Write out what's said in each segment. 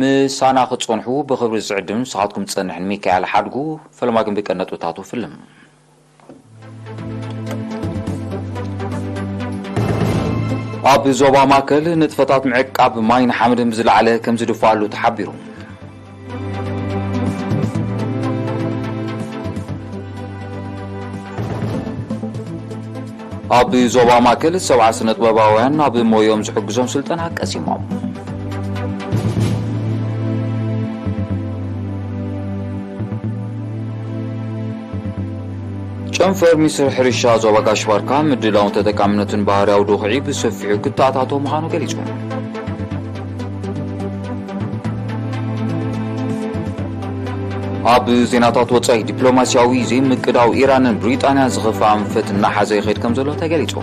ምሳና ክትጸንሑ ብኽብሪ ዝዕድም ንስኻትኩም ትጸንሕን ሚካኤል ሓድጉ ፈለማ ግን ብቀን ነጥብታቱ ፍልም። ኣብ ዞባ ማእከል ንጥፈታት ምዕቃብ ማይን ሓመድን ብዝለዓለ ከም ዝድፋኣሉ ተሓቢሩ። ኣብ ዞባ ማእከል ሰብዓ ስነጥበባውያን ናብ ሞዮም ዝሕግዞም ስልጠና ቀሲሞም። ጨንፈር ሚኒስትሪ ሕርሻ ዞባ ጋሽባርካ ምድላውን ተጠቃምነትን ባህርያዊ ዱኽዒ ብሰፊሑ ክተኣታቶ ምዃኑ ገሊጹ። ኣብ ዜናታት ወጻኢ ዲፕሎማሲያዊ ዘይምቅዳው ኢራንን ብሪጣንያ ዝኸፈ ኣንፈት እናሓዘ ይኸይድ ከም ዘሎ ተገሊጹ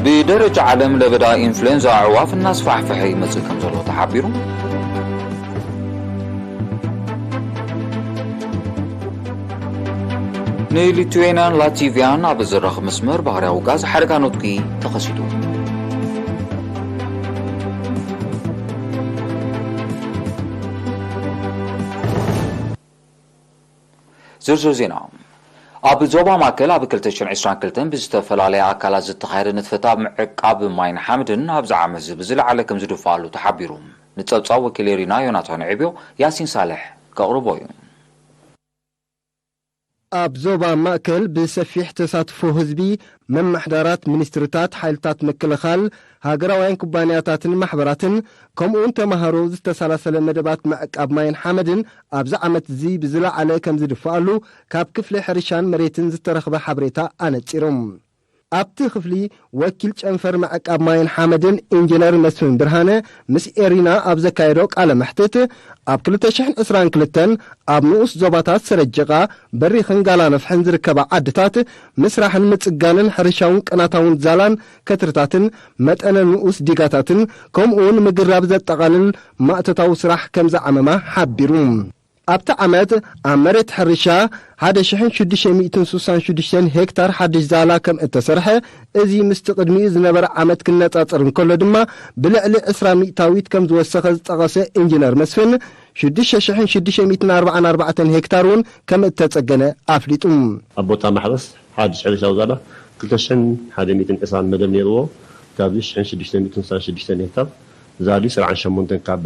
ብደረጃ ዓለም ለበዳ ኢንፍሉዌንዛ ኣዕዋፍ እናስፋሕፈሐ ይመጽእ ከም ዘሎ ተሓቢሩ ንሊቱዌንያን ላቲቭያን ኣብ ዘራኽ መስመር ባህርያዊ ጋዝ ሓደጋ ኖትኪ ተኸሲቱ ዝርዝር ዜና ኣብ ዞባ ማእከል ኣብ 222 ብዝተፈላለየ ኣካላት ዝተኻየደ ንጥፈት ኣብ ምዕቃብ ማይን ሓምድን ኣብዚ ዓመት እዚ ብዝለዓለ ከም ዝድፋኣሉ ተሓቢሩ ንፀብፃብ ወኪል ኤሪና ዮናታን ዕብዮ ያሲን ሳልሕ ከቕርቦ እዩ ኣብ ዞባ ማእከል ብሰፊሕ ተሳትፎ ህዝቢ፣ መማሕዳራት፣ ሚኒስትሪታት፣ ሓይልታት ምክልኻል፣ ሃገራውያን ኩባንያታትን ማሕበራትን፣ ከምኡ'ውን ተማሃሮ ዝተሰላሰለ መደባት ምዕቃብ ማይን ሓመድን ኣብዚ ዓመት'ዚ ብዝለዓለ ከምዝድፋኣሉ ካብ ክፍሊ ሕርሻን መሬትን ዝተረኽበ ሓበሬታ ኣነጺሩ። ኣብቲ ክፍሊ ወኪል ጨንፈር ምዕቃብ ማይን ሓመድን ኢንጂነር መስፍን ብርሃነ ምስ ኤሪና ኣብ ዘካየዶ ቃለ መሕትት ኣብ ክልተ ሽሕን ዕስራን ክልተን ኣብ ንኡስ ዞባታት ሰረጀቓ፣ በሪኽን ጋላነፍሕን ዝርከባ ዓድታት ምስራሕን ምፅጋንን ሕርሻውን ቅናታውን ዛላን ከትርታትን መጠነ ንኡስ ዲጋታትን ከምኡውን ምግራብ ዘጠቓልል ማእቶታዊ ስራሕ ከምዝዓመማ ሓቢሩ። ኣብቲ ዓመት ኣብ መሬት ሕርሻ ሓደ ሽሕን ሽዱሽተ ሚእትን ስሳን ሽዱሽተን ሄክታር ሓድሽ ዛላ ከም እተሰርሐ፣ እዚ ምስቲ ቅድሚኡ ዝነበረ ዓመት ክነጻጸር እንከሎ ድማ ብልዕሊ ዕስራ ሚእታዊት ከም ዝወሰኸ ዝጠቐሰ ኢንጂነር መስፍን፣ ሽዱሽተ ሽሕን ሽዱሽተ ሚእትን ኣርባዓን ኣርባዕተን ሄክታር እውን ከም እተጸገነ ኣፍሊጡ። ኣብ ቦታ ማሕረስ ሓድሽ ሕርሻዊ ዛላ ክልተ ሽሕን ሓደ ሚእትን ዕስራን መደብ ነይርዎ። ካብዚ ሽሕን ሽዱሽተ ሚእትን ስሳን ሽዱሽተን ሄክታር ዛሊ ስርዓን ሸሞንተን ካብ።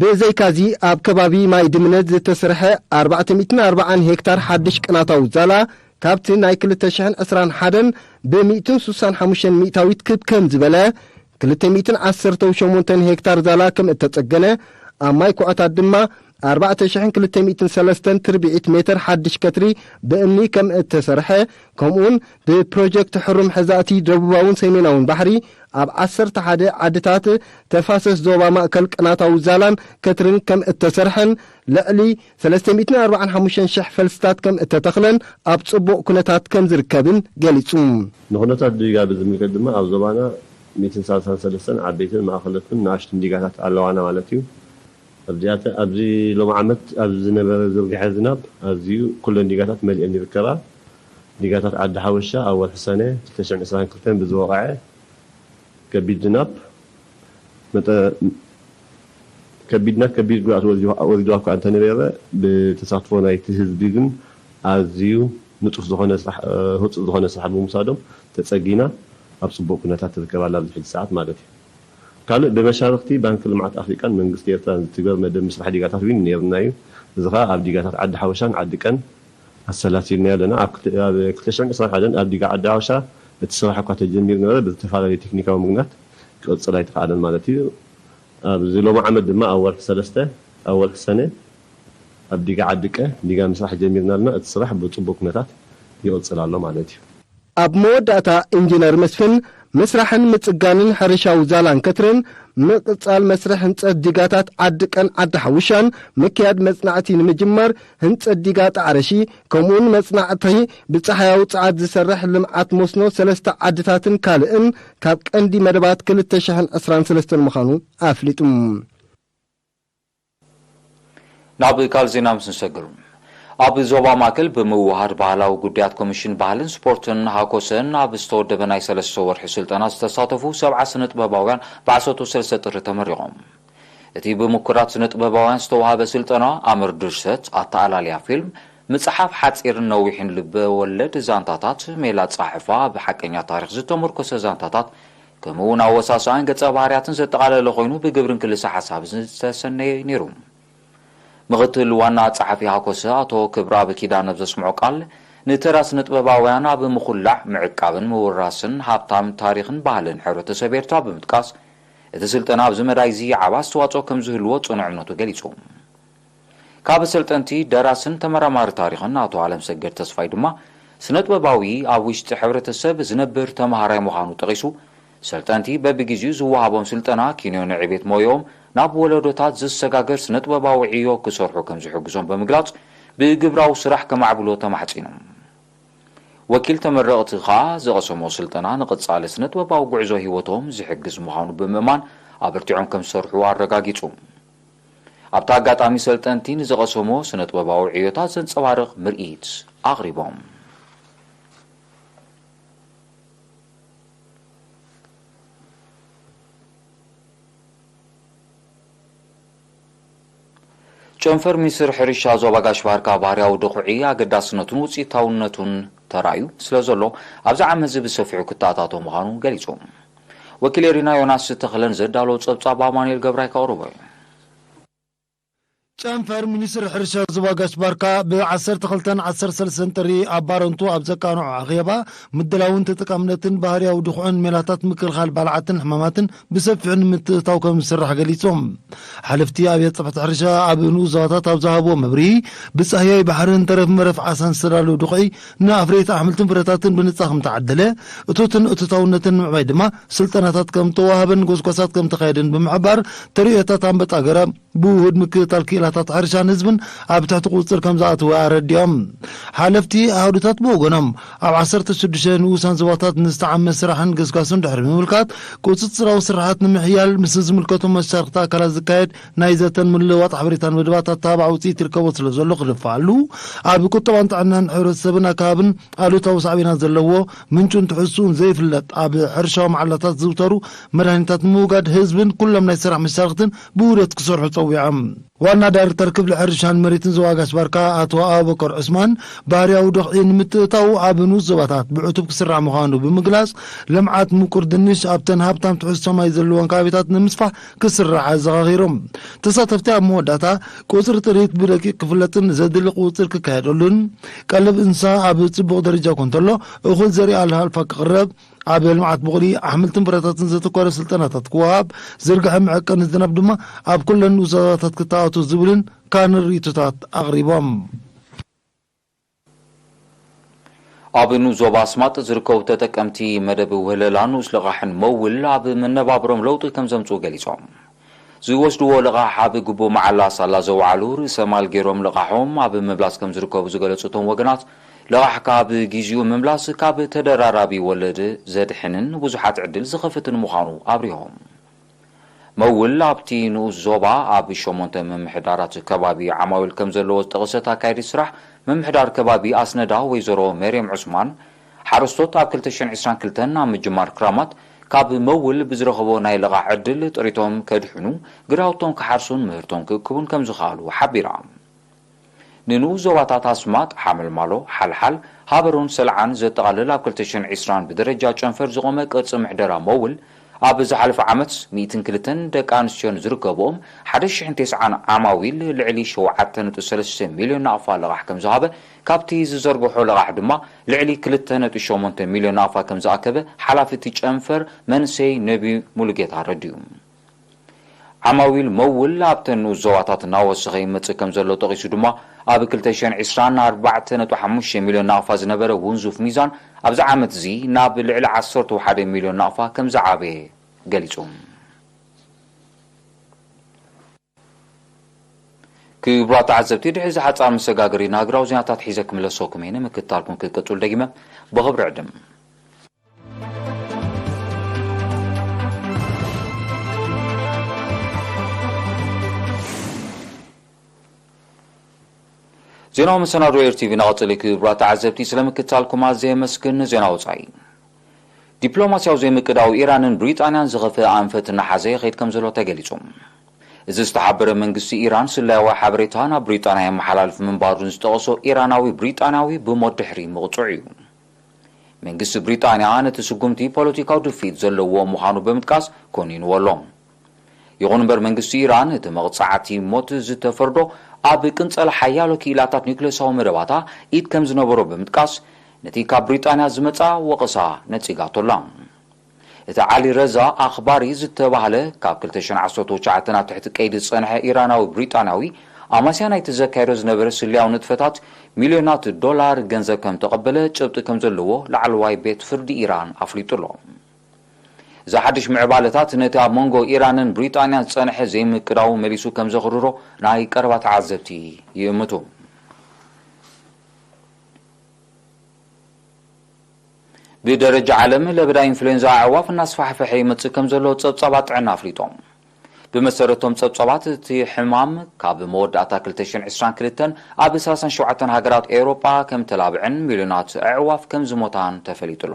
ብዘይካዚ ኣብ ከባቢ ማይ ድምነት ዝተስርሐ ኣርባዕተ ሚእትን ኣርባዓን ሄክታር ሓድሽ ቅናታዊ ዛላ ካብቲ ናይ ክልተ ሽሕን ዕስራን ሓደን ብሚእትን ሱሳን ሓሙሽተን ሚእታዊት ክብ ከም ዝበለ ክልተ ሚእትን ዓሰርተው ሸሞንተን ሄክታር ዛላ ከም እተጸገነ ኣብ ማይ ኩዖታት ድማ ኣርባዕተ ሽሕን ክልተ ሚእትን ሰለስተን ትርብዒት ሜተር ሓድሽ ከትሪ ብእምኒ ከም እተሰርሐ ከምኡውን ብፕሮጀክት ሕሩም ሕዛእቲ ደቡባውን ሰሜናውን ባሕሪ ኣብ ዓሰርተ ሓደ ዓድታት ተፋሰስ ዞባ ማእከል ቅናታዊ ዛላን ከትርን ከም እተሰርሐን ልዕሊ ሰለስተ ሚእትን ኣርብዓን ሓሙሽተን ሽሕ ፈልስታት ከም እተተኽለን ኣብ ጽቡቕ ኩነታት ከም ዝርከብን ገሊጹ። ንኩነታት ዲጋ ብዝምልከት ድማ ኣብ ዞባና ሚእትን ሳልሳን ሰለስተን ዓበይትን ማእኸለትኩን ንኣሽቱን ዲጋታት ኣለዋና ማለት እዩ። ኣብዚኣተ ኣብዚ ሎሚ ዓመት ኣብ ዝነበረ ዝርግሐ ዝናብ ኣዝዩ ኩለን ዲጋታት መሊኤን ይርከባ። ዲጋታት ዓዲ ሓወሻ ኣብ ወርሒ ሰነ ክልተ ሽሕን ዕስራን ክልተን ብዝወቕዐ ከቢድ ዝናብ ከቢድና ከቢድ ጉድኣት ወሪድዋ እኳ እንተነበረ ብተሳትፎ ናይቲ ህዝቢ ግን ኣዝዩ ንጡፍ ዝኾነ ስራሕ ህፁፅ ዝኾነ ስራሕ ብምውሳዶም ተፀጊና ኣብ ፅቡቕ ኩነታት ትርከብ ኣላ ኣብዚ ሕጂ ሰዓት ማለት እዩ። ካልእ ብመሻርኽቲ ባንኪ ልምዓት ኣፍሪቃን መንግስቲ ኤርትራን ዝትግበር መደብ ምስራሕ ዲጋታት ዊን ነይሩና እዩ። እዚ ከኣ ኣብ ዲጋታት ዓዲ ሓወሻን ዓዲ ቀን፣ ኣሰላሲልናዮ ኣለና። ኣብ ክልተ ሽሕን ዕስራን ሓደን ኣብ ዲጋ ዓዲ ሓውሻ እቲ ስራሕ እኳ ተጀሚሩ ነበረ፣ ብዝተፈላለየ ቴክኒካዊ ምክንያት ክቕጽል ኣይተኻእለን ማለት እዩ። ኣብዚ ሎሚ ዓመት ድማ ኣብ ወርሒ ሰለስተ፣ ኣብ ወርሒ ሰነ፣ ኣብ ዲጋ ዓዲ ቀ፣ ዲጋ ምስራሕ ጀሚርና ኣለና፣ እቲ ስራሕ ብጽቡቕ ኩነታት ይቕጽል ኣሎ ማለት እዩ። ኣብ መወዳእታ ኢንጂነር መስፍን፣ ምስራሕን ምጽጋንን ሕርሻዊ ዛላን ከትርን፣ ምቕጻል መስርሕ ህንጸት ዲጋታት ዓዲ ቀን ዓዲ ሓውሻን፣ ምክያድ መጽናዕቲ ንምጅማር ህንጸት ዲጋ ጣዕረሺ፣ ከምኡ'ውን መጽናዕቲ ብጸሓያዊ ጸዓት ዝሰርሕ ልምዓት መስኖ ሰለስተ ዓድታትን ካልእን ካብ ቀንዲ መደባት ክልተ ሽሕን ዕስራን ሰለስተን ምዃኑ ኣፍሊጡ። ናብ ካልእ ዜና ምስ ንሰግር፣ ኣብ ዞባ ማእከል ብምውህሃድ ባህላዊ ጉዳያት ኮሚሽን ባህልን ስፖርትን፣ ሃኮሰ፣ ኣብ ዝተወደበ ናይ ሰለስተ ወርሒ ስልጠና ዝተሳተፉ ሰብዓ ስነጥበባውያን ብ ዓሰርተ ሰለስተ ጥሪ ተመሪቖም። እቲ ብምኩራት ስነጥበባውያን ዝተወሃበ ስልጠና፣ ኣምር ድርሰት፣ ኣተኣላልያ ፊልም፣ ምጽሓፍ ሓጺርን ነዊሕን ልበ ወለድ ዛንታታት፣ ሜላ ኣጸሓሕፋ፣ ኣብ ሓቀኛ ታሪኽ ዝተሞርኮሰ ዛንታታት፣ ከምኡ እውን ኣወሳስኣን ገፀ ባህርያትን ዘጠቓለለ ኮይኑ ብግብርን ክልሰ ሓሳብን ዝተሰነየ እዩ ነይሩ። ምኽትል ዋና ፀሓፊ ሃኮሰ ኣቶ ክብረኣብ ኪዳነ ኣብ ዘስምዖ ቃል፣ ንተራ ስነጥበባውያን ኣብ ምኹላዕ፣ ምዕቃብን ምውራስን ሃብታም ታሪኽን ባህልን ሕብረተሰብ ኤርትራ ብምጥቃስ፣ እቲ ስልጠና ኣብዚ መዳይ እዚ ዓቢ ኣስተዋፅኦ ከምዝህልዎ ፅኑዕ እምነቱ ገሊፁ። ካብ ኣሰልጠንቲ፣ ደራስን ተመራማሪ ታሪኽን ኣቶ ኣለምሰገድ ተስፋይ ድማ፣ ስነጥበባዊ ኣብ ውሽጢ ሕብረተሰብ ዝነብር ተመሃራይ ምዃኑ ጠቒሱ፣ ሰልጠንቲ በብግዜኡ ዝወሃቦም ስልጠና ኪንዮ ንዕቤት ሞየኦም ናብ ወለዶታት ዝሰጋገር ስነጥበባዊ ዕዮ ክሰርሑ ከምዝሕግዞም ብምግላጽ፣ ብግብራዊ ስራሕ ከማዕብሎ ተማሕጺኑ። ወኪል ተመረቕቲ ከኣ፣ ዝቐሰሞ ስልጠና ንቐጻሊ ስነጥበባዊ ጉዕዞ ህይወቶም ዝሕግዝ ምዃኑ ብምእማን ኣበርቲዖም ከምዝሰርሑ ኣረጋጊጹ። ኣብቲ ኣጋጣሚ ሰልጠንቲ ንዝቐሰምዎ ስነጥበባዊ ዕዮታት ዘንጸባርቕ ምርኢት ኣቕሪቦም። ጨንፈር ሚኒስትሪ ሕርሻ ዞባ ጋሽ-ባርካ ባህርያዊ ድኹዒ ኣገዳስነቱን ውጽኢታውነቱን ተራእዩ ስለዘሎ ኣብዚ ዓመትዚ ብሰፊሑ ክተኣታቶ ምዃኑ ገሊጹ። ወኪል ኤሪና ዮናስ ተኽለ ንዘዳለዎ ጸብጻብ ኣማኑኤል ገብራይ ከቕርቦ እዩ። ጨንፈር ሚኒስትሪ ሕርሻ ዞባ ጋሽ-ባርካ ብ ዓሰርተ ክልተን ዓሰርተ ሰለስተን ጥሪ ኣብ ባረንቱ ኣብ ዘቃንዖ ኣኼባ፣ ምድላውን ተጠቃምነትን ባህርያዊ ድኹዕን ሜላታት ምክልኻል ባልዓትን ሕማማትን ብሰፊሑ ንምትእትታው ከምዝስራሕ ገሊጾም። ሓለፍቲ ኣብያተ ጽሕፈት ሕርሻ ኣብ ንኡስ ዞባታት ኣብ ዝሃብዎ መብርሂ፣ ብጻህያይ ባሕርን ተረፍ መረፍ ዓሳን ዝተዳለወ ድኹዒ፣ ንኣፍረይቲ ኣሕምልትን ፍረታትን ብንጻ ከም እተዓደለ፣ እቶትን እቶታውነትን ንምዕባይ ድማ ስልጠናታት ከም እተወሃበን ጎስጓሳት ከም እተኻየደን ብምሕባር፣ ተርእዮታት ኣንበጣ ገረብ ብውሁድ ምክትታል ክኢላታት ሕርሻን ህዝብን ኣብ ትሕቲ ቁጽጽር ከም ዝኣተወ ኣረዲኦም። ሓለፍቲ ኣሃዱታት ብወገኖም፣ ኣብ ዓሰርተ ሽዱሽተ ንኡሳን ዞባታት ንዝተዓመ ስራሕን ገስጋስን ድሕሪ ምምልካት፣ ቁጽጽራዊ ስርሓት ንምሕያል ምስ ዝምልከቶም መሻርኽቲ ኣካላት ዝካየድ ናይ ዘተን ምልውዋጥ ሓበሬታን መደባት ኣተባባዒ ውፅኢት ይርከቦ ስለ ዘሎ ክድፋኣሉ ኣብ ቁጠባን ጥዕናን ሕብረተሰብን ኣከባብን ኣሉታዊ ሳዕቤናት ዘለዎ ምንጩን ትሕዝትኡን ዘይፍለጥ ኣብ ሕርሻዊ መዓላታት ዝዝውተሩ መድሃኒታት ንምውጋድ ህዝብን ኩሎም ናይ ስራሕ መሻርኽትን ብውህደት ክሰርሑ ፀዊዖም። ዋና ዳይሬክተር ክፍሊ ሕርሻን መሬትን ዞባ ጋሽ ባርካ ኣቶ ኣቡበከር ዑስማን ባህርያዊ ድኽዒ ንምትእታው ኣብ ንኡስ ዞባታት ብዕቱብ ክስራሕ ምዃኑ ብምግላፅ ልምዓት ምቁር ድንሽ ኣብተን ሃብታም ትሕዝቶ ማይ ዘለወን ከባቢታት ንምስፋሕ ክስራዕ ኣዘኻኺሩ። ተሳተፍቲ ኣብ መወዳእታ ቁፅሪ ጥሪት ብደቂቕ ክፍለጥን ዘድሊ ቁፅፅር ክካየደሉን፣ ቀለብ እንስሳ ኣብ ፅቡቕ ደረጃ ኮንተሎ እኹል ዘርኢ ኣልፋ ክቕረብ፣ ኣብ ልምዓት ቡቕሊ ኣሕምልትን ፍረታትን ዘተኮረ ስልጠናታት ክወሃብ፣ ዝርግሐ መዐቀኒ ዝናብ ድማ ኣብ ኩለን ንኡስ ዛዛታት ክተኣታቶ ዝብልን ካልእን ርኢቶታት ኣቕሪቦም። ኣብ ንኡስ ዞባ ኣስማጥ ዝርከቡ ተጠቀምቲ መደብ ውህለላ ንኡስ ልቓሕን መውል ኣብ መነባብሮኦም ለውጢ ከምዘምፅኡ ገሊፆም። ዝወስድዎ ልቓሕ ኣብ ግቡእ መዓላ ሳላ ዘውዓሉ ርእሰ ማል ገይሮም ልቓሖም ኣብ ምምላስ ከምዝርከቡ ዝገለፁ እቶም ወገናት ልቓሕካ ኣብ ጊዚኡ ምምላስ ካብ ተደራራቢ ወለድ ዘድሕንን ንብዙሓት ዕድል ዝኸፍትን ምዃኑ ኣብሪሆም። መውል ኣብቲ ንኡስ ዞባ ኣብ ሸሞንተ ምምሕዳራት ከባቢ ዓማዊል ከምዘለዎ ዝጠቐሰት ኣካያዲት ስራሕ ምምሕዳር ከባቢ ኣስነዳ ወይዘሮ መርየም ዑስማን፣ ሓረስቶት ኣብ ክልተ ሽሕን ዕስራን ክልተን ኣብ ምጅማር ክራማት ካብ መውል ብዝረኸቦ ናይ ልቓሕ ዕድል ጥሪቶም ከድሕኑ፣ ግራውቶም ክሓርሱን ምህርቶም ክእክቡን ከምዝኸኣሉ ሓቢራ። ንንኡስ ዞባታት ኣስማጥ፣ ሓመልማሎ፣ ሓልሓል፣ ሃበሮን ሰልዓን ዘጠቓልል ኣብ ክልተ ሽሕን ዕስራን ብደረጃ ጨንፈር ዝቖመ ቅርጺ ምሕደራ ሞውል፣ ኣብ ዝሓለፈ ዓመት ሚእትን ክልተን ደቂ ኣንስትዮን ዝርከብኦም ሓደ ሽሕን ተስዓን ዓማዊል ልዕሊ ሸውዓተ ነጥቢ ሰለስተ ሚልዮን ናቕፋ ልቓሕ ከምዝሃበ ካብቲ ዝዘርግሖ ልቓሕ ድማ ልዕሊ ክልተ ነጥቢ ሸሞንተ ሚልዮን ናቕፋ ከምዝኣከበ ሓላፊ እቲ ጨንፈር መንእሰይ ነብዩ ሙሉጌታ ኣረዲኡ። ዓማዊል መውል ኣብተን ንኡስ ዞባታት እናወሰኸ ይመጽእ ከምዘሎ ጠቒሱ ድማ፣ ኣብ ክልተ ሽሕን ዕስራን ኣርባዕተ ነጥቢ ሓሙሽተ ሚልዮን ናቕፋ ዝነበረ ውንዙፍ ሚዛን ኣብዚ ዓመት'ዚ ናብ ልዕሊ ዓሰርተው ሓደ ሚልዮን ናቕፋ ከምዝዓበየ ገሊጹ። ክብራት ተዓዘብቲ ድሕሪ እዚ ሓጻር መሰጋገሪ ንሃገራዊ ዜናታት ሒዘ ክምለሰኩም እየ ንምክትታልኩም ክትቅጽሉ ደጊመ ብኽብሪ ዕድም ዜናዊ መሰናዶ ኤርቲቪ ናቐጽሊ ክብራት ተዓዘብቲ ስለምክትታልኩም ኣዘየ መስግን ዜና ወጻኢ ዲፕሎማስያዊ ዘይምቅዳው ኢራንን ብሪጣንያን ዝኸፍእ ኣንፈት እናሓዘ ይኸይድ ከምዘሎ ተገሊጹ። እዚ ዝተሓበረ መንግስቲ ኢራን ስለያዊ ሓበሬታ ናብ ብሪጣንያ የመሓላልፍ ምንባሩን ዝጠቐሶ ኢራናዊ ብሪጣንያዊ ብሞት ድሕሪ ምቕጽዑ'ዩ። መንግስቲ ብሪጣንያ ነቲ ስጉምቲ ፖለቲካዊ ድፍኢት ዘለዎ ምዃኑ ብምጥቃስ ኮኒንዎ ኣሎ። ይኹን እምበር መንግስቲ ኢራን እቲ መቕጻዕቲ ሞት ዝተፈርዶ ኣብ ቅንጸላ ሓያሎ ክኢላታት ኒዩክለሳዊ መደባታ ኢድ ከም ዝነበሮ ብምጥቃስ ነቲ ካብ ብሪጣንያ ዝመጽኣ ወቐሳ ነጺጋቶ ኣላ። እቲ ዓሊ ረዛ ኣኽባሪ ዝተባህለ ካብ ክልተ ሽሕን ዓሰርተው ትሽዓተን ኣብ ትሕቲ ቀይዲ ዝጸንሐ ኢራናዊ ብሪጣንያዊ ኣማስያ ናይቲ ዘካይዶ ዝነበረ ስለያዊ ንጥፈታት ሚልዮናት ዶላር ገንዘብ ከም እተቐበለ ጭብጢ ከም ዘለዎ ላዕለዋይ ቤት ፍርዲ ኢራን ኣፍሊጡ ኣሎ። እዚ ሓድሽ ምዕባለታት ነቲ ኣብ መንጎ ኢራንን ብሪጣንያን ዝጸንሐ ዘይምቅዳው መሊሱ ከም ዘኽርሮ ናይ ቀረባ ተዓዘብቲ ይእምቱ። ብደረጃ ዓለም ለበዳ ኢንፍሉዌንዛ ኣዕዋፍ እናስፋሕፈሐ ይመጽእ ከም ዘሎ ጸብጻባት ጥዕና ኣፍሊጦም። ብመሰረት እቶም ጸብጻባት እቲ ሕማም ካብ መወዳእታ ክልተ ሽሕን ዕስራን ክልተን ኣብ ሰላሳን ሸውዓተን ሃገራት ኤውሮጳ ከም እተላብዕን ሚልዮናት ኣዕዋፍ ከም ዝሞታን ተፈሊጡ ኣሎ።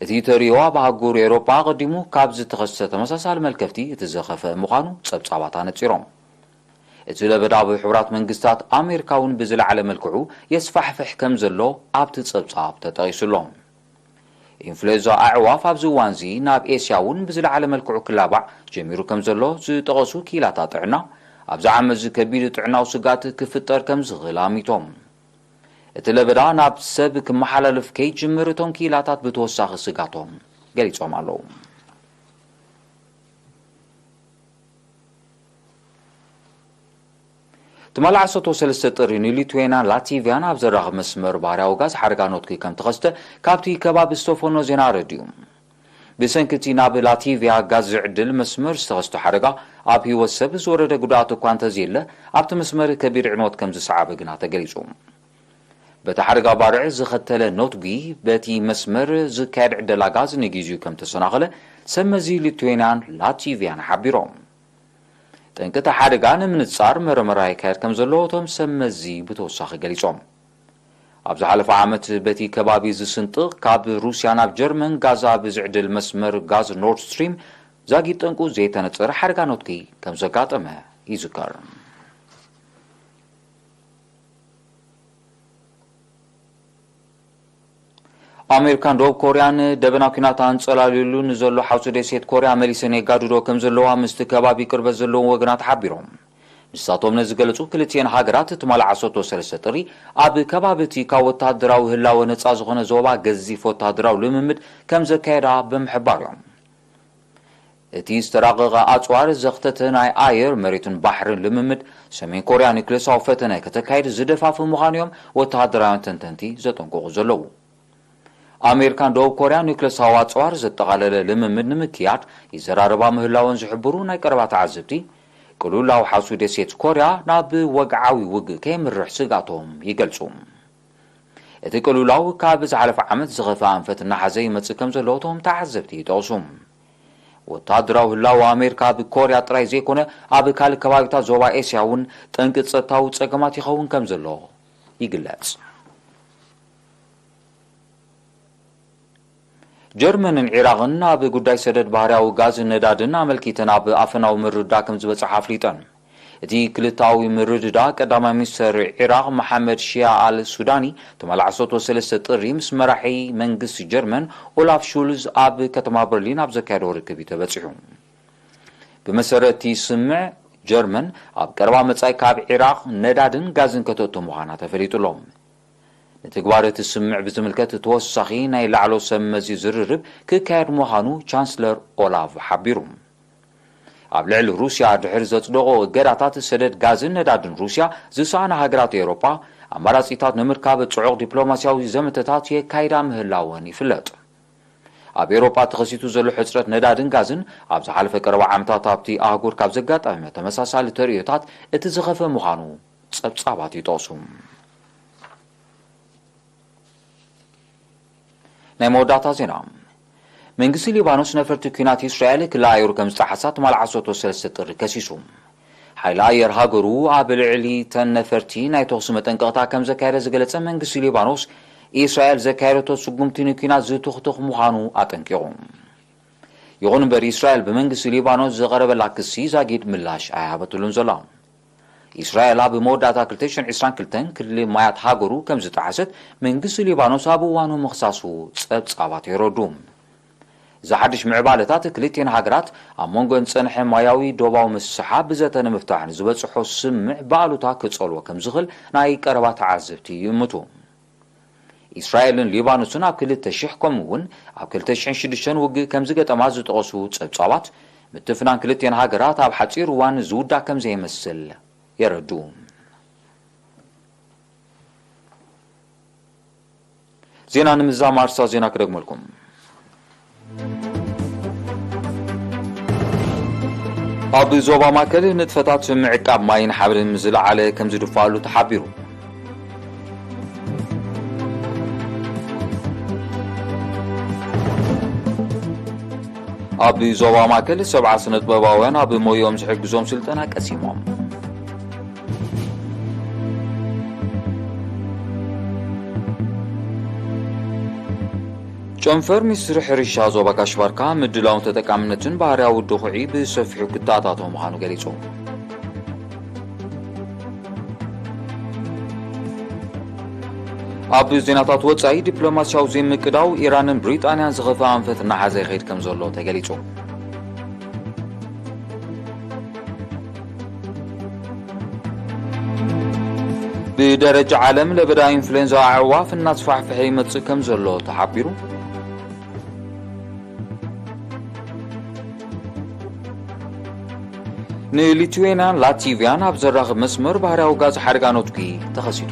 እቲ ተርእዮ ኣብ ኣህጉር ኤውሮጳ ኣቐዲሙ ካብ ዝተኸስተ ተመሳሳሊ መልከፍቲ እቲ ዝኸፍአ ምዃኑ ጸብጻባት ኣነጺሮም። እቲ ለበዳ ኣብ ሕቡራት መንግስታት ኣሜሪካ'ውን ብዝለዓለ መልክዑ የስፋሕፍሕ ከም ዘሎ ኣብቲ ጸብጻብ ተጠቒሱ'ሎ። ኢንፍሉዌንዛ ኣዕዋፍ ኣብዚ እዋን'ዚ ናብ ኤስያ'ውን ብዝለዓለ መልክዑ ክላባዕ ጀሚሩ ከም ዘሎ ዝጠቐሱ ክኢላታት ጥዕና፣ ኣብዚ ዓመት'ዚ ከቢድ ጥዕናዊ ስግኣት ክፍጠር ከም ዝኽእል ኣሚቶም። እቲ ለበዳ ናብ ሰብ ክመሓላለፍ ከይጅምር እቶም ክኢላታት ብተወሳኺ ስግኣቶም ገሊፆም ኣለው። ትማሊ ዓሰርተ ሰለስተ ጥሪ ንሊትዌንያን ላቲቭያን ኣብ ዘራኽብ መስመር ባህርያዊ ጋዝ ሓደጋ ኖትኪ ከም ተኸስተ ካብቲ ከባቢ ዝተፈኖ ዜና ኣረዲኡ። ብሰንኪ እቲ ናብ ላቲቭያ ጋዝ ዝዕድል መስመር ዝተኸስተ ሓደጋ፣ ኣብ ህይወት ሰብ ዝወረደ ጉድኣት እኳ እንተዘየለ፣ ኣብቲ መስመር ከቢድ ዕንወት ከምዝሰዓበ ግና ተገሊጹ። በቲ ሓደጋ ባርዕ ዘኸተለ ኖትጒ፣ በቲ መስመር ዝካየድ ዕደላ ጋዝ ንጊዚኡ ከምተሰናኸለ ሰብመዚ ሊቱዌንያን ላቲቭያን ሓቢሮም። ጠንቂ እቲ ሓደጋ ንምንጻር መረመራ ይካየድ ከምዘሎ እቶም ሰብመዚ ብተወሳኺ ገሊጾም። ኣብ ዝሓለፈ ዓመት በቲ ከባቢ ዝስንጥቕ ካብ ሩስያ ናብ ጀርመን ጋዝ ኣብ ዝዕድል መስመር ጋዝ ኖርድ ስትሪም ዛጊት ጠንቁ ዘይተነጸረ ሓደጋ ነትጒ ከም ዘጋጠመ ይዝከር። ኣሜሪካን ደቡብ ኮርያን ደበና ኲናት ኣንጸላልዩሉ ንዘሎ ሓውሲ ደሴት ኮርያ መሊሰን የጋድዶ ከም ዘለዋ ምስቲ ከባቢ ቅርበት ዘለዎም ወገናት ሓቢሮም። ንሳቶም ነዚ ዝገለጹ ክልቲኤን ሃገራት ትማል ዓሰርተው ሰለስተ ጥሪ ኣብ ከባቢ እቲ ካብ ወተሃደራዊ ህላወ ነጻ ዝኾነ ዞባ ገዚፍ ወተሃደራዊ ልምምድ ከም ዘካየዳ ብምሕባር እዮም። እቲ ዝተራቐቐ ኣጽዋር ዘኽተተ ናይ ኣየር፣ መሬትን ባሕርን ልምምድ፣ ሰሜን ኮርያ ኑክሌሳዊ ፈተነ ከተካይድ ዝደፋፍእ ምዃኑ'ዮም ወተሃደራውያን ተንተንቲ ዘጠንቅቑ ዘለዉ። ኣሜሪካ ን ደቡብ ኮርያን ኑክሌሳዊ ኣጽዋር ዘጠቓለለ ልምምድ ንምክያድ ይዘራረባ ምህላወን ዝሕብሩ ናይ ቀረባ ተዓዘብቲ፣ ቅሉል ኣውሓሱ ደሴት ኮርያ ናብ ወግዓዊ ውግእ ከየምርሕ ስግኣቶም ይገልጹ። እቲ ቅልውላው ካብ ዝሓለፈ ዓመት ዝኸፍኣ ኣንፈት እናሓዘ ይመጽእ ከምዘሎ እቶም ተዓዘብቲ ይጠቕሱ። ወተሃደራዊ ህላወ ኣሜሪካ ኣብ ኮርያ ጥራይ ዘይኮነ ኣብ ካልእ ከባቢታት ዞባ ኤስያ እውን ጠንቂ ጸጥታዊ ጸገማት ይኸውን ከም ዘሎ ይግለጽ። ጀርመንን ዒራቕን ኣብ ጉዳይ ሰደድ ባህርያዊ ጋዝን ነዳድን ኣመልኪተን ኣብ ኣፈናዊ ምርድዳእ ከም ዝበጽሓ ኣፍሊጠን። እቲ ክልተኣዊ ምርድዳእ፣ ቀዳማይ ሚኒስተር ዒራቕ መሓመድ ሺያ ኣል ሱዳኒ ትማሊ ዓሰርተው ሰለስተ ጥሪ ምስ መራሒ መንግስቲ ጀርመን ኦላፍ ሹልዝ ኣብ ከተማ በርሊን ኣብ ዘካየዶ ርክብ እዩ ተበጺሑ። ብመሰረት እቲ ስምምዕ፣ ጀርመን ኣብ ቀረባ መጻኢ ካብ ዒራቕ ነዳድን ጋዝን ከተእቱ ምዃና ተፈሊጡ ኣሎ። ንትግባረ እቲ ስምምዕ ብዝምልከት ተወሳኺ ናይ ላዕሎ ሰብ መዚ ዝርርብ ክካየድ ምዃኑ ቻንስለር ኦላቭ ሓቢሩ። ኣብ ልዕሊ ሩስያ ድሕሪ ዘጽደቖ እገዳታት ሰደድ ጋዝን ነዳድን ሩስያ ዝሰኣና ሃገራት ኤውሮጳ፣ ኣማራጺታት ንምርካብ ጽዑቕ ዲፕሎማስያዊ ዘመተታት የካይዳ ምህላወን ይፍለጥ። ኣብ ኤውሮጳ ተኸሲቱ ዘሎ ሕጽረት ነዳድን ጋዝን፣ ኣብ ዝሓለፈ ቀረባ ዓመታት ኣብቲ ኣህጉር ካብ ዘጋጠመ ተመሳሳሊ ተርእዮታት እቲ ዝኸፍእ ምዃኑ ጸብጻባት ይጠቕሱ። ናይ መወዳእታ ዜና መንግስቲ ሊባኖስ ነፈርቲ ኲናት እስራኤል ክሊ ኣየሩ ከም ዝጠሓሳ ትማል ዓሰርተ ሰለስተ ጥሪ ከሲሱ። ሓይሊ ኣየር ሃገሩ ኣብ ልዕሊ ተን ነፈርቲ ናይ ተኹሲ መጠንቀቕታ ከም ዘካየደ ዝገለጸ መንግስቲ ሊባኖስ እስራኤል ዘካየደቶ ስጉምቲ ንኲናት ዝትኹትኽ ምዃኑ ኣጠንቂቑ። ይኹን እምበር እስራኤል ብመንግስቲ ሊባኖስ ዝቐረበላ ክሲ ዛጊድ ምላሽ ኣይሃበትሉን ዘላ። እስራኤል ኣብ መወዳእታ ክልተ ሽሕን ዕስራን ክልተን ክሊ ማያት ሃገሩ ከም ዝጠሓሰት መንግስቲ ሊባኖስ ኣብ እዋኑ ምኽሳሱ ጸብጻባት የረድኡ። እዚ ሓድሽ ምዕባለታት ክልቲኤን ሃገራት ኣብ መንጎኤን ዝጸንሐ ማያዊ ዶባዊ ምስሕሓብ ብዘተ ንምፍታሕ ንዝበጽሖ ስምምዕ ብኣሉታ ክጸልዎ ከም ዝኽእል ናይ ቀረባ ተዓዘብቲ ይእምቱ። ኢስራኤልን ሊባኖስን ኣብ ክልተ ሽሕ ከምኡ እውን ኣብ ክልተ ሽሕን ሽዱሽተን ውግእ ከምዝገጠማ ዝጠቐሱ ጸብጻባት፣ ምትፍናን ክልቲኤን ሃገራት ኣብ ሓጺር እዋን ዝውዳእ ከምዘይመስል የረድኡ። ዜና ንምዛም ኣርስታት ዜና ክደግመልኩም። ኣብ ዞባ ማእከል ንጥፈታት ምዕቃብ ማይን ሓብርን ምስ ዝለዓለ ከም ዝድፋኣሉ ተሓቢሩ። ኣብ ዞባ ማእከል ሰብዓ ስነጥበባውያን ኣብ ሞይኦም ዝሕግዞም ስልጠና ቀሲሞም ጨንፈር ሚኒስትሪ ሕርሻ ዞባ ጋሽ ባርካ ምድላውን ተጠቃምነትን ባህርያዊ ድኹዒ ብሰፊሑ ክተኣታቶ ምዃኑ ገሊጹ። ኣብ ዜናታት ወፃኢ ዲፕሎማሲያዊ ዘይምቅዳው ኢራንን ብሪጣንያን ዝኸፈ ኣንፈት እናሓዘ ይኸይድ ከም ዘሎ ተገሊፁ ብደረጃ ዓለም ለበዳ ኢንፍሉዌንዛ ኣዕዋፍ እናስፋሕፍሐ ይመጽእ ከም ዘሎ ተሓቢሩ። ንሊትዌንያን ላቲቪያን ኣብ ዘራኽብ መስመር ባህርያዊ ጋዝ ሓደጋ ነትጒ ተኸሲቱ።